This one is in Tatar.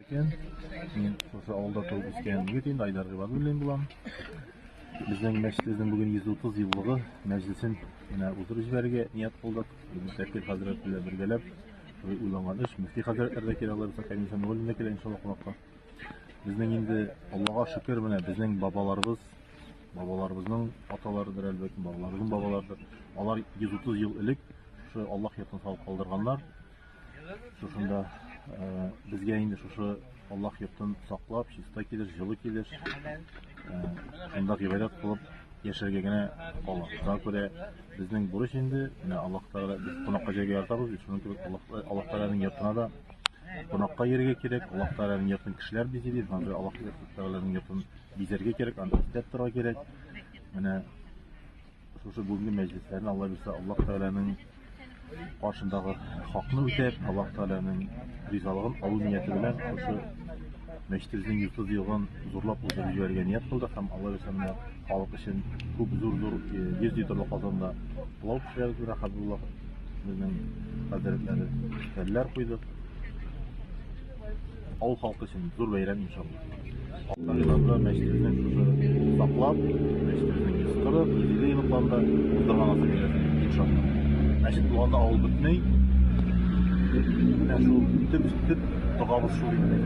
Икән, мин шушы авылда туып үскән егет инде, Айдар Гыйбадуллин булам. Безнең мәчетебезнең бүген 130 еллыгы мәҗлесен менә уздырып җибәрергә ният кылдык. Мөфти хәзрәт белән бергәләп уйланган эш. Мөфти хәзрәтләр дә килә, алар бер комиссия мөгаллим дә килә иншаллаһ кунакка. Безнең инде Аллага шөкер менә безнең бабаларыбыз, бабаларыбызның аталарыдыр әлбәттә, бабаларыбызның бабаларыдыр. Алар 130 ел элек шушы Аллаһ йортын салып калдырганнар. Шушында э, безгә инде шушы Аллах йортын саклап, чиста килеш, җылы килеш, э, шунда гыйбадәт кылып яшәргә генә кала. Шуңа күрә безнең бурыч инде, менә Аллах Тәгалә без кунакка җәйгә ятабыз, бит шуның кебек Аллах Аллах Тәгаләнең йортына да кунакка йөрергә кирәк. Аллах Тәгаләнең йортын кешеләр бизи бит, шуңа күрә Аллах Тәгаләнең йортын бизәргә кирәк, анда эстәп торырга кирәк. Менә Шушы бүгенге мәҗлесләрне Алла бирсә, Аллаһ Тәгаләнең каршындагы хакны үтәп, Аллаһ Тәгаләнең ризалыгын алу нияте белән шушы мәчетебезнең йорты дигән зурлап узып җибәрергә ният кылдык һәм Алла бирсә менә халык өчен күп зур-зур 100 э, литрлы казанда пылау пешерәбез менә Хәбибулла безнең хәзрәтләре кәлләр куйдык. Авыл халкы өчен зур бәйрәм иншалла. Алда елларда мәчетебезнең шушы саклап, мәчетебезнең 140, 150 еллыкларында уздырган аса бәйрәмен иншалла. Мәчет булганда авыл бетмей. Менә шул төп төп догабыз шул инде.